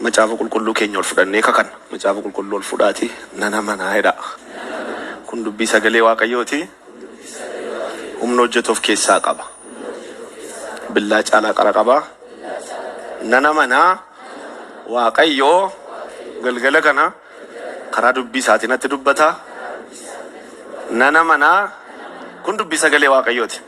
Macaafa qulqulluu keenya ol fudhannee kakanna. Macaafa qulqulluu ol fudhaatii nan amanaa jedha. Kun dubbii sagalee Waaqayyooti. Humna hojjetu of keessaa qaba. Billaa caalaa qara qaba. Nan amanaa Waaqayyoo galgala kana Karaa dubbii isaatii natti dubbata, nan amana. Kun dubbii sagalee Waaqayyooti.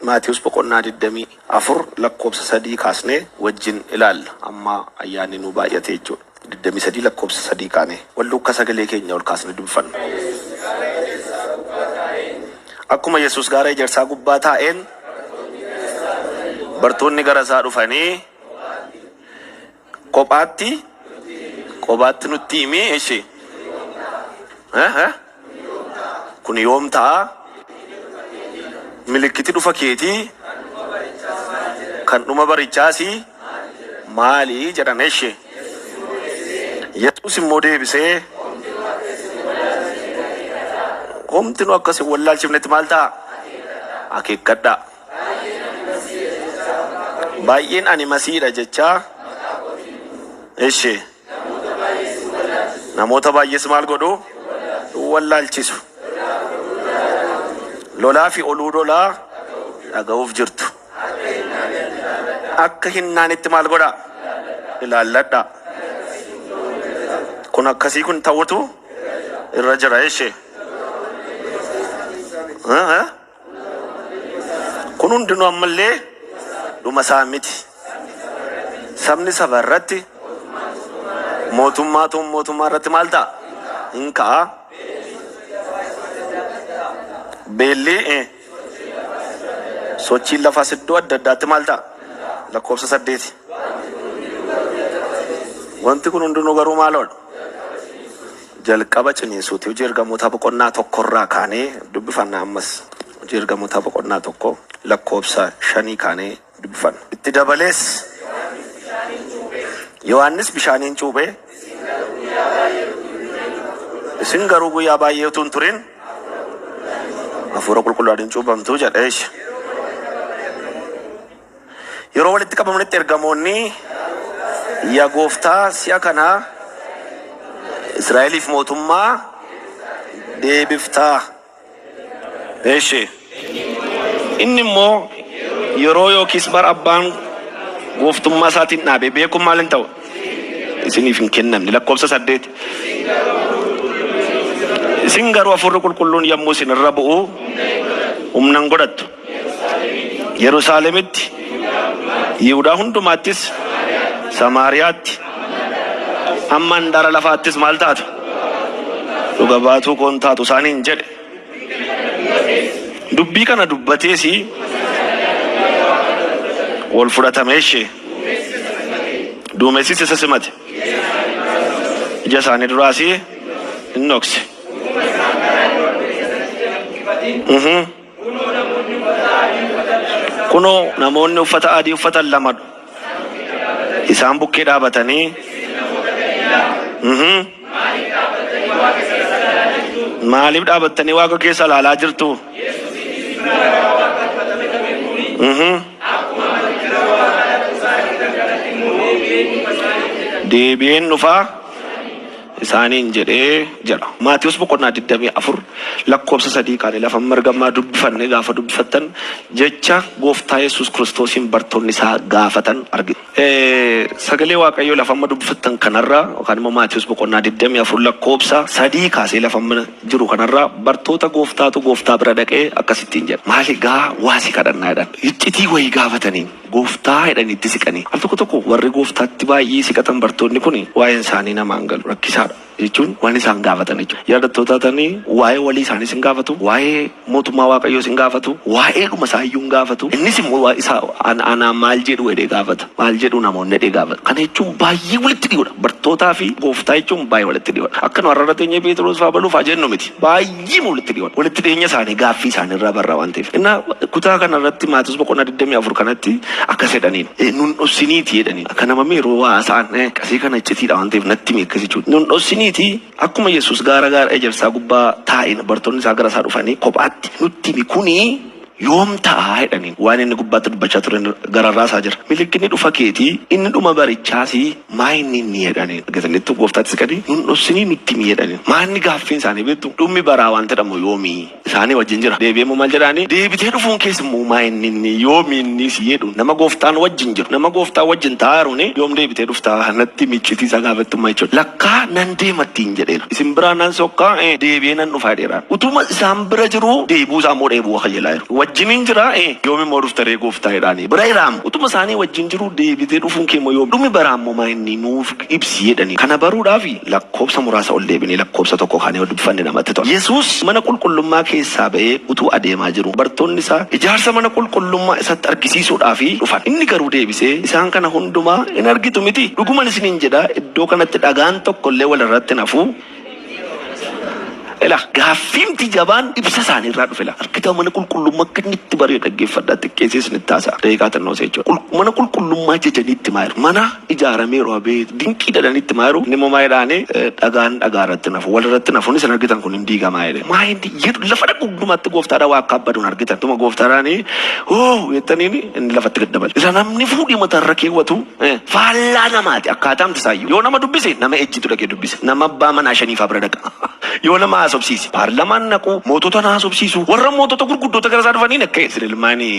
Maatiyus boqonnaa 24 lakkoofsa 3 kaasnee wajjin ilaalla. Amma ayyaanni nuu baay'ate jechuudha. 23 lakkoofsa 3 kaanee wal duukaa sagalee keenya ol kaasnee dubbifanna. Akkuma Yesuus gaara ejersaa gubbaa taa'een bartoonni gara isaa dhufanii Kophaatti Qobaatti nutti himi eshi. Eh, eh. Kun yoom ta'a? Milikkiti dhufa keeti kan dhuma barichaasi maali jedhan eshi. Yesuus immoo deebisee homtinu akkas hin wallaalchifnetti maal ta'a? Akeekkadhaa. Baay'een ani Masihiidha jechaa. Ishi. Namoota baay'ees maal godhu? Hin wallaalchisu. Lolaa fi oluu lolaa dhaga'uuf jirtu. Akka hin naanetti maal godhaa? Ilaalladhaa. Kun akkasii kun ta'utu irra jira. Ishi. Kun hundinuu ammallee dhuma isaa miti. Sabni saba irratti, mootummaatu mootummaa irratti maal ta'a? Hin ka'a. Beelli, sochiin lafaas iddoo adda addaatti maal ta'a? Lakkoofsa saddeeti. Wanti kun hundinuu garuu maaloodha? Jalqaba ciniinsuuti. Hojii Ergamootaa boqonnaa 1 irraa kaanee dubbifanna ammas. Hojii Ergamootaa boqonnaa 1 lakkoofsa 5 kaanee dubbifanna. Itti dabalees. Yohaannis bishaaniin cuuphe. Isin garuu guyyaa baay'ee utuu hin turin Hafuura Qulqulluudhaan in cuuphamtu jedhe. Eesh. Yeroo walitti qabamanitti ergamoonni, Yaa Gooftaa, si'a kana Israa'eliif mootummaa deebiftaa? Eeshi. Inni immoo, Yeroo yookiis bara Abbaan gooftummaa isaatiin dhaabe beekuun maal hin ta'u? Isiniif hin kennamne. Lakkoofsa saddeet. Isin garuu Hafuurri Qulqulluun yommuu isin irra bu'u humna hin godhattu. Yerusaalemitti, Yihudaa hundumaattis, Samaariyaatti, hamma handaara lafaattis maal taatu? Dhuga baatuu koo in taatu isaaniin jedhe. Dubbii kana dubbatees ol fudhatame ishee. Duumessis isa simate. Ija isaanii duraas in dhokse. Mhm. Kunoo, namoonni uffata adii uffatan lama isaan bukkee dhaabatanii, uhum, Maaliif dhaabattanii waaqa keessa ilaalaa jirtu? Uhum. Deebi'een dhufaa. isaaniin jedhe jedha. Maatewos boqonnaa 24 lakkoofsa 3 kaane lafa amma ergammaa dubbifanne gaafa dubbifattan jecha gooftaa Yesuus Kiristoosiin bartoonni isaa gaafatan argitu. Sagalee Waaqayyoo lafa amma dubbifattan kanarraa yookaan immoo Maatewos boqonnaa 24 lakkoofsa 3 kaasee lafa amma jiru kanarraa bartoota gooftaatu gooftaa bira dhaqee akkas ittiin jedhe maali gaa waa si kadhannaa jedhan. Iccitii wayii gaafataniin. Gooftaa jedhanii itti siqanii. Al tokko tokko warri Gooftaatti baay'ee siqatan bartoonni kun waa'een isaanii namaa hin galu, rakkisaa dha, jechuun waan isaan gaafatan jechuudha. Yaadattoota taatanii waa'ee walii isaaniis hin gaafatu, waa'ee Mootummaa Waaqayyoos hin gaafatu, waa'eedhuma isaa iyyuu hin gaafatu. Innis immoo waa'ee isaa an, anaan maal jedhu jedhee gaafata. Maal jedhu namoonni jedhee gaafata. Kana jechuun baay'ee walitti dhihoo dha. Bartootaa fi Gooftaa jechuun baay'ee walitti dhihoo dha. Akka nu har'a irra teenyee Pheexiroos fa'aa baluu fa'aa jennu miti. Baay'ee. Jiima walitti dhiyoodha. Walitti dhiyeenya isaanii gaaffii isaanii irraa barra waan ta'eef. Innaa kutaa kana irratti Maatiwos boqonnaa 24 kanatti akkas jedhaniin. Nun dhossiniitii jedhaniin. Akka nama meeroo waa haasa'an qasii kana iccitiidha waan ta'eef natti himi akkas jechuudha. Nun dhossiniitii akkuma Yesuus gaara gaara ejersaa gubbaa taa'een bartoonni isaa gara isaa dhufanii kophaatti nutti himi kuni Yoom ta'a? jedhaniin. Waan inni gubbaatti dubbachaa ture gararraa isaa jira. Milikkinni dhufa keetii inni dhuma barichaasi maayinni inni? jedhaniin. Argataniittu Gooftaatti siqanii nun dhossinii nutti himi jedhaniin. Maanni gaaffiin isaanii beektu dhummi baraa waanti jedhamu yoomi? Isaanii wajjin jira. Deebi'ee immoo maal jedhaanii? Deebitee dhufuun kees immoo maayinni inni? Yoomi inni? si jedhuun. Nama Gooftaan wajjin jiru, nama Gooftaan wajjin taa'aaruuni yoom deebitee dhufta? Natti himi iccitii isaa gaafettummaa jechuudha. Lakkaa nan deema ittiin jedheera. Isin biraa nan sokkaa, ee deebi'ee nan dhufa jedheera. Utuma isaan bira jiruu deebuu isaa immoo dheebuu akayelaa jiru. Wajjinin jira e yoom immoo dhufta ree gooftaa jedhaanii. Bira jiraam utuma isaanii wajjin jiruu deebitee dhufuun kee immoo yoom dhumi baraa immoo maa inni nuuf ibsi jedhanii. Kana baruudhaafi lakkoobsa muraasa ol deebinee lakkoobsa tokko kaanee yoo dubbifanne namatti tola. Yesuus mana qulqullummaa keessaa ba'ee utuu adeemaa jiruu bartoonni isaa ijaarsa mana qulqullummaa isatti argisiisuudhaafi dhufan. Inni garuu deebisee isaan kana hundumaa in argitu mitii? Dhuguman isiniin jedha iddoo kanatti dhagaan tokko illee wal irratti hin hafu Ila gaaffiimti jabaan ibsa isaanii irraa dhufe ila argitaa mana qulqullummaa akka inni itti bari'e dhaggeeffadhaa xiqqeessee isinitti haasa'a daqiiqaa xinnoo isa jechuudha Qul- mana qulqullummaa jajanii itti maa jiru mana ijaarameeru abeet dinqii dadhanii itti maa jiru inni immoo maa jedhaanii "Eh, dhagaan dhagaa irratti nafu wal irratti nafu isin argitan kun hin diigamaa jedhe maa hin di- jedhu lafa dhaqu hundumaatti gooftaadhaa waa akka abbaduun argitan tuma gooftaadhaanii hoo jettaniin inni lafatti gad dabale isa namni fuudhii mataa irra keewwatu Faallaa namaati akkaataan isaayyuu. Yoo nama dubbise nama ejjitu dhaqee dubbisa. Nama abbaa manaa shaniifaa bira dhaqa. Yoo nama haasofsiise paarlamaan naqu mootota na haasofsiisu warra mootota gurguddoota gara isaa dhufaniin akka isin ilmaani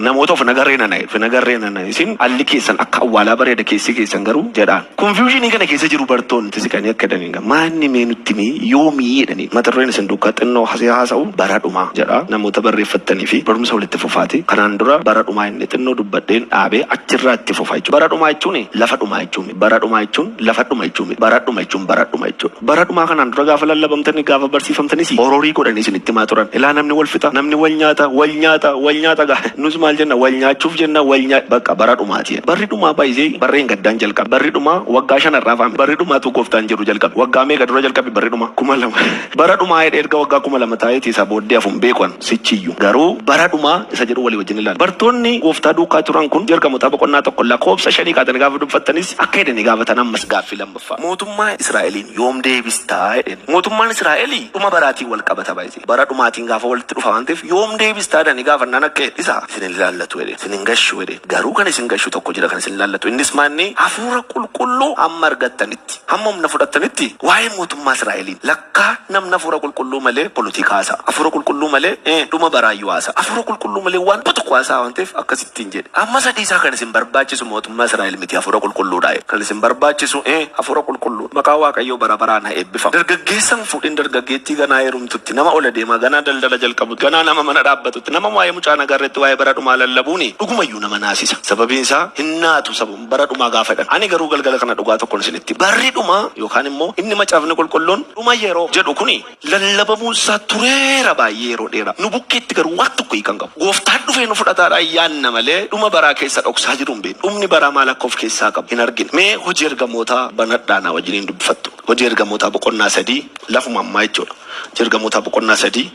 namoota of nagarree nana of nagarree nana isin alli keessan akka awwaalaa bareeda keessi keessan garuu jedhaan. Konfiyuushinii kana keessa jiru bartoonni siqanii akka daniin. Maanni mee nutti himii yoomii jedhanii mata dureen isin duukkaa xinnoo hasee haasa'u bara dhumaa jedha namoota barreeffattanii fi barumsa walitti fufaati kanaan dura bara dhumaa inni xinnoo dubbadheen dhaabee achirraa itti fufa jechuudha bara dhumaa jechuun lafa dhumaa jechuu miti bara dhumaa jechuun lafa dhuma jechuu miti bara dhuma jechuun bara dhuma jechuudha bara dhumaa kanaan dura gaafa lallabamtanii gaafa barsiifamtanis hororii godhanii isinitti himaa turan ilaa namni wal fixa namni wal nyaata wal nyaata wal nyaata gaa nus maal jenna wal nyaachuuf jenna wal nyaa baqa bara dhumaati Barri dhumaa by the way barreen gaddaan jalqabe barri dhumaa waggaa shan har'aa fa'aa miti barri dhumaa tuu gooftaan jedhu jalqabe waggaa meeqa dura jalqabe barri dhumaa kuma lama bara dhumaa jedhee erga waggaa kuma lama taa'eeti isaa booddee hafu hin beeku an sichiyyuu garuu bara dhumaa isa jedhu walii wajjin ilaalla bartoonni gooftaa duukaa turan kun ergamotaa boqonnaa tokko lakoobsa shanii kaatanii gaafa dubfattanis akka jedhanii gaafatan ammas gaaffii lammaffaa mootummaa Israa'eliin yoom deebistaa jedheen mootummaan Israa'elii dhuma baraatiin wal qabata by the way. Bara dhumaatiin gaafa walitti dhufa waan ta'eef yoom deebistaa jedhanii gaafannaan akka jedhe dhisaa isin hin ilaallatu jedhe isin hin gashu jedhe garuu kan isin gashu tokko jira kan isin ilaallatu innis maanni hafuura qulqulluu hamma argattanitti hamma humna fudhattanitti waa'ee mootummaa Israa'eliin lakkaa namni hafuura qulqulluu malee polotikaa haasa'a hafuura qulqulluu malee eh, dhuma baraayyuu haasa'a hafuura qulqulluu malee waan tokko haasa'a waan ta'eef akkasi ittiin jedhe. Amma sadii isaa kan isin barbaachisu mootummaa Israa'el miti Hafuura Qulqulluu dha jedhe. Kan isin barbaachisu ee Hafuura Qulqulluu dha. Maqaan Waaqayyoo bara baraan ha eebbifamu. Dargaggeessa hin fuudhin dargaggeettii ganaa heerumtutti, nama ol adeemaa, ganaa daldala jalqabutti, ganaa nama mana dhaabbatutti, nama waa'ee mucaa nagaa irratti waa'ee bara dhumaa lallabuuni dhuguma iyyuu nama naasisa. Sababiin isaa hin naatu sababuma bara dhumaa gaafa jedhan. Ani garuu galgala kana dhugaa tokkon isinitti hima. Barri dhumaa yookaan immoo inni Macaafni Qulqulluun dhuma yeroo jedhu kuni, lallabamuun isaa tureera baay'ee yeroo dheeraa. Nu bukkeetti garuu waan tokko hiika hin qabu. Gooftaan dhufee nu fudhataadhaan yaanna malee dhuma baraa keessa dhoksaa jiru hin beeknu. Dhumni baraa maal akka of keessaa qabu hin argine. Mee Hojii Ergamootaa banadhaa naa wajjiniin dubbifattu. Hojii Ergamootaa boqonnaa 3 lafuma ammaa jechuudha. Hojii Ergamootaa boqonnaa 3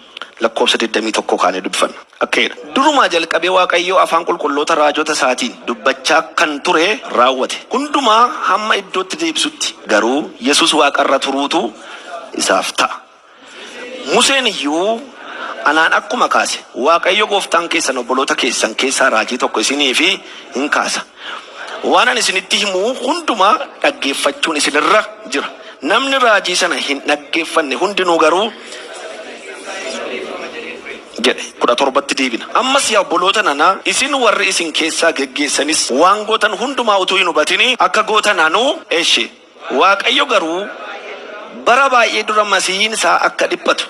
lakkoofsa 21 kaanee dubbifanna. Akka'eedha. Durumaa jalqabee Waaqayyo afaan qulqulloota raajota isaatiin dubbachaa kan ture raawwate hundumaa hamma iddootti deebisutti garuu Yesus waaqa irra turuutu isaaf ta'a. Museen iyyuu Anaan akkuma kaase Waaqayyo gooftaan keessan obboloota keessan keessaa raajii tokko isiniif in kaasa. Waan ani isinitti himu hundumaa dhaggeeffachuun isin irra jira. Namni raajii sana hin dhaggeeffanne hundinuu garuu jedhe. 17tti deebina. Ammas yaa obboloota nana, isin warri isin keessaa geggeessanis, waan gootan hundumaa utuu hin hubatinii akka gootan anu eshi. Waaqayyo garuu bara baay'ee dura Masihiin isaa akka dhiphatu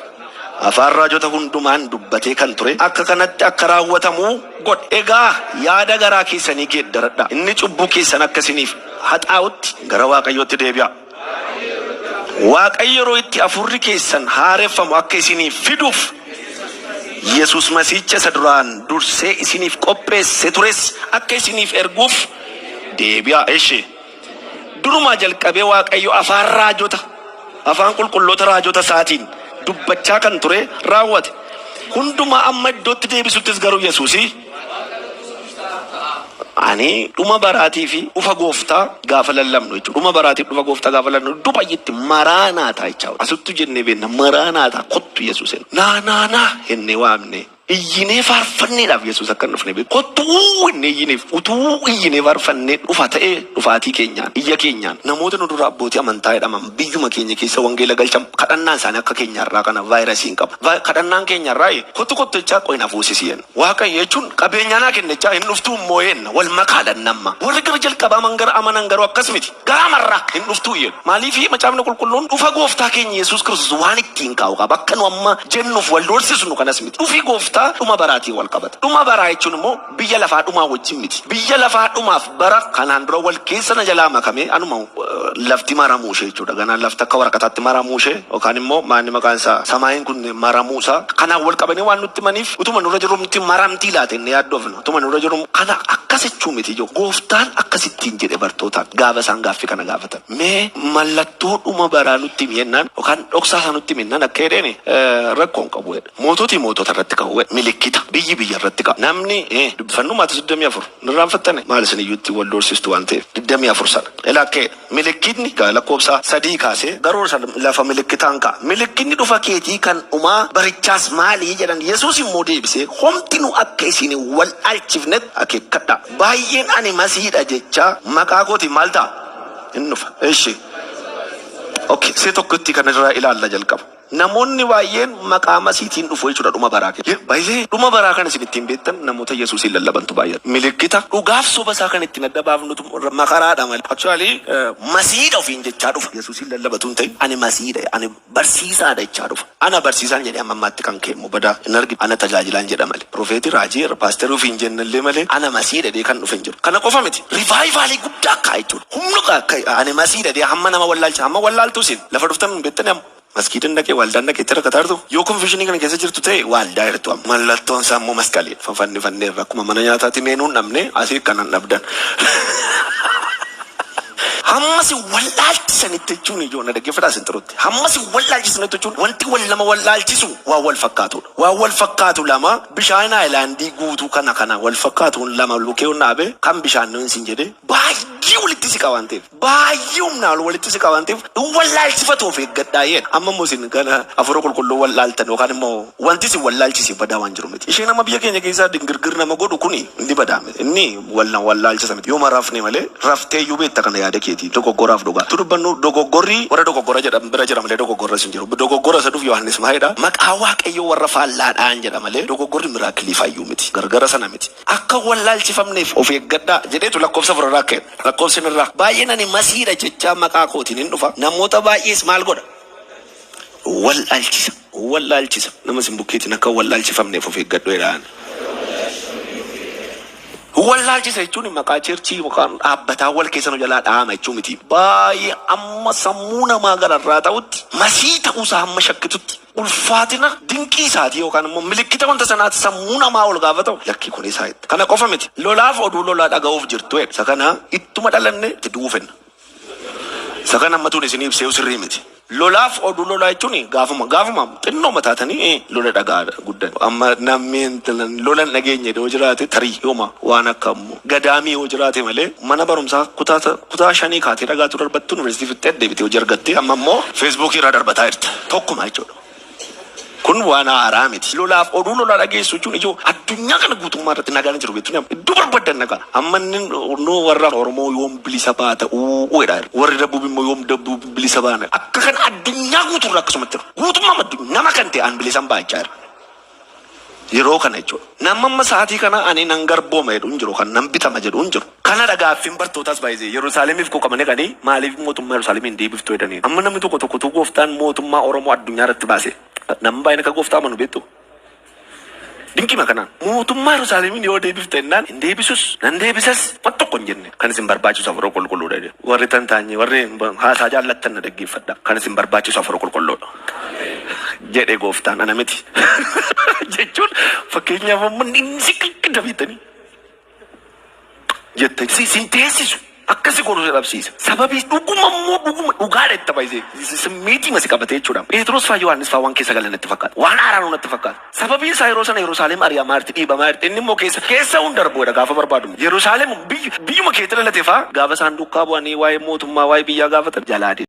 afaan raajota hundumaan dubbatee kan ture akka kanatti akka raawwatamu godhe. Egaa yaada garaa keessanii geeddaradhaa, inni cubbuu keessan akka isiniif haxaa'utti gara Waaqayyootti deebi'aa. Waaqayyo yeroo itti hafuurri keessan haareffamu akka isiniif fiduuf Yesus Masihicha isa duraan dursee isiniif qopheesse tures akka isiniif erguuf deebi'aa. Eshi. Durumaa jalqabee Waaqayyo afaan raajota, afaan qulqulloota raajota isaatiin dubbachaa kan ture raawwate. Hundumaa amma iddootti deebisuttis garuu Yesusi. Waaqa dhufuus dursaaf ta'aa. Ani dhuma baraatii fi dhufa gooftaa gaafa lallabnu jechuudha. Dhuma baraatiif dhufa gooftaa gaafa lallabnu iddoo baay'eetti maraanaataa jechaa asittuu jennee beenna maraanaataa kottu yesuus hin naa naa naa hennee waamnee iyyinee faarfanneedhaaf yesuus akka hin dhufne beeku kottu uuu hennee iyyineef utuu iyyinee faarfannee dhufa ta'ee dhufaatii keenyaan iyya keenyaan namoota nu dura abbootii amantaa jedhaman biyyuma keenya keessa wangeela galchan kadhannaan isaanii akka keenya har'aa kana vaayirasii hin qabu kadhannaan keenya har'aa kottu kottu jechaa qoyi na fuusisi Waaqayyo jechuun qabeenyaa naa kenne jechaa hin dhuftuu hin moo'eenna wal makaadhan namma warri gara jalqabaa man gara amanan garuu akkas miti garaa marraa hin dhuftuu jedhu maaliifii macaafni qulqulluun dhufa gooftaa keenya yesuus kiristoos waan ittiin kaa'u qaba akka nu amma jennuuf wal doorsisnu kanas miti dhufi gooftaa dhuma baraatiin wal qabata dhuma baraa jechuun immoo biyya lafaa dhumaa wajjin miti biyya lafaa dhumaaf Bara kanaan dura wal keessa na jalaa makamee anuma lafti maramuu ishee jechuudha. Ganaa lafti akka waraqataatti maramuu ishee yookaan immoo maanni maqaan isaa samaayiin kun maramuu isaa kanaan wal qabanii waan nutti himaniif utuma nurra jirru nutti maramtii laata inni yaaddofna. Utuma nurra jirru kana akkas jechuu miti ijoo. Gooftaan akkas ittiin jedhe bartootaan gaafa isaan gaaffii kana gaafatan. Mee mallattoo dhuma baraa nutti himi jennaan yookaan dhoksaa isaa nutti himi jennaan akka jedheen rakkoo hin qabu jedhe. Moototi mootota irratti ka'u jedhe. Milikkita biyyi biyya irratti ka'a. Namni dubbifannu Maatiyoos 24. Hin irraanfattani? Maal isin iyyuu ittiin wal doorsistu waan ta'eef. 24 sana. Ilaa kk Milikkitni gaa lakkoofsa 3 kaasee garuu isa lafa milikkitaan ka'a. Milikkitni dhufa keetii kan dhumaa barichaas maali? jedhan. Yesuus immoo deebisee, Homtinuu akka isin hin waldhaalchifnet akeekkadhaa. Baay'een ani Masihii dha jechaa maqaa kootiin maal ta'a? In dhufa. Eshi. Ok, see tokkittii kana irraa ilaalla jalqaba. Namoonni baay'een maqaa Masihiitiin dhufu jechuu dha, dhuma baraa keessa. Yaa baay'ee! Dhuma baraa kan isin ittiin beektan namoota Yesuusiin lallabantu baay'ata. Milikkita dhugaa fi soba isaa kan ittiin adda baafnutu makaraa dha malee. Actually Masihii dha ofiin jechaa dhufa. Yesuusiin lallaba utuu hin ta'in ani Masihii dha, ani barsiisaa dha jechaa dhufa. Ana barsiisaan jedhee hamma ammaatti kan ka'e immoo badaa hin argine. Ana tajaajilaan jedha malee. Profeetii, raajii, irra paasterii ofiin jenna illee malee ana Masihii dha jedhee kan dhufe hin jiru. Kana qofa miti, rivaayivaalii guddaa ka'a jechuu dha. Humna ka'a, ani Masihii dha jedhee hamma nama wallaalchisu, hamma wallaaltuu isin lafa dhuftan hin beektanii amma. Masgiidan dhaqe, waaldaan dhaqe itti rakkataartu? Yoo konfeshinii kana keessa jirtu ta'e waaldaa irtu amma. Mallattoon isaa immoo masqaliidha. Fafannifanneerra akkuma mana nyaataatti meenuu hin dhabne asii kana hin dhabdan. Hamma si wallaalchisanitti jechuun ijoo na dhaggeeffadhaa isin xiruutti. Hamma si wallaalchisanitti jechuun wanti wal nama wallaalchisu waan wal fakkaatuudha. Waan wal fakkaatu lama bishaan haayilaandii guutuu kana kana wal fakkaatuun lama lukeeun dhaabe kan bishaan nu hin siin jedhee baay'ee walitti siqa waan ta'eef. baay'ee humnaa ol walitti siqa waan ta'eef hin wallaalchifatu of eeggadhaa jedha. Amma immoo isin gana hafuura qulqulluu wallaaltan yookaan immoo wanti isin wallaalchise badaa waan jiru miti. Isheen amma biyya keenya keessaa dingirgir nama godhu kuni inni badaa miti. Inni wal na wallaalchisa miti. Yooma rafne malee raftee iyyuu beekta kana yaada keetii dogoggoraaf dhugaa. Utuu dubbannu dogoggorri warra dogoggora jedhan bira jira malee dogoggorras hin jiru. Dogoggora isa dhufu Yohaannis maal jedha maqaa Waaqayyoo warra faallaadhaan jedha malee dogoggorri miraakilii faayyuu miti. Gargara sana miti. Akka hin wallaalchifamneef of eeggadhaa! jedheetu lakkoofsa afur irraa ka'e. Lakkoofsi inni irraa baay'een ani Masihii dha jechaa maqaa kootiin in dhufa, namoota baay'ees maal godha? wallaalchisa. In wallaalchisa. Nama isin bukkeetiin akka hin wallaalchifamneef of eeggadhu jedhaan. In wallaalchisa jechuun maqaa cheerchii yookaan dhaabbataa wal keessa nu jalaa dha'ama jechuu miti. Baay'ee hamma sammuu namaa gararraa ta'utti, Masihii ta'uu isaa hamma shakkitutti, ulfaatina dinqii isaatii yookaan immoo milikkita wanta sanaatti sammuu namaa ol gaafa ta'u lakkii kun isaa itti. Kana qofa miti. Lolaaf oduu lolaa dhaga'uuf jirtu jedha. Isa kana ittuma dhalanne itti du'uu fenna. Isa kana ammatuun isin ibsee sirrii miti. Lolaaf oduu lolaa jechuun gaafuma gaafuma xinnoo mataatanii eh, lola dhagaadha guddan. Amma namni intalan lola hin dhageenye yoo jiraate tarii yooma waan akka ammoo. Gadaamii yoo jiraate malee mana barumsaa kutaa kutaa shanii kaatee dhagaatuu darbattu universitii fixxee deebitee hojii argattee amma immoo Facebook irraa darbataa jirta tokkuma jechuudha kun waan haaraa miti lolaaf oduu lolaa dhageessu jechuun ijoo addunyaa kana guutummaa irratti nagaan hin jiru beektu nama iddoo barbaddan nagaa amma inni nuu warra Oromoo yoom bilisa baata uuu jedha warri dabbuub immoo yoom dabbuub bilisa baana akka kana addunyaa guutuu irra akkasumatti jiru guutummaa addunyaa nama kan ta'e aan bilisaan baachaa jira Yeroo kana jechuudha. Namni amma sa'aatii kana ani nan garbooma jedhu hin jiru, kan nan bitama jedhu hin jiru. Kanadha gaaffiin bartootaas by the way. Yerusaalemiif quuqamanii dhaqanii maaliif mootummaa Yerusaalem hin deebiftu jedhaniin. Amma namni tokko tokko utuu gooftaan mootummaa Oromoo addunyaa irratti baase namni baay'een akka gooftaa amanu beektuu? Dinqiima kanaan. Mootummaa Yerusaalemiin yoo deebifta jennaan hin deebisus nan deebisas wan tokko hin jenne. Kan isin barbaachisu hafuura qulqulluudha jedhe. Warri tantaanyee warri haasaa jaallattan na dhaggeeffadhaa. Kan isin barbaachisu hafuura qulqulluudha. jedhe gooftaan ana miti jechuun fakkeenyaaf amma inni si qaqqida beektanii jettanii si sin teessisu akkasi godhu si dhabsiisa sababii dhuguma immoo dhuguma dhugaadha itti baay'isee simmiitii masi qabate jechuudha Pheexroos faa Yohaannis faa waan keessa galan natti fakkaata waan haaraanuu natti fakkaata sababii isaa yeroo sana Yerusaalem ari'amaa jirti dhiibamaa jirti inni immoo keessa keessa hunda darbuudha gaafa barbaadu Yerusaalem biyyu- biyyuma keetti dhalate faa gaafa isaan duukaa bu'anii waa'ee mootummaa waa'ee biyyaa gaafatan jalaa deema.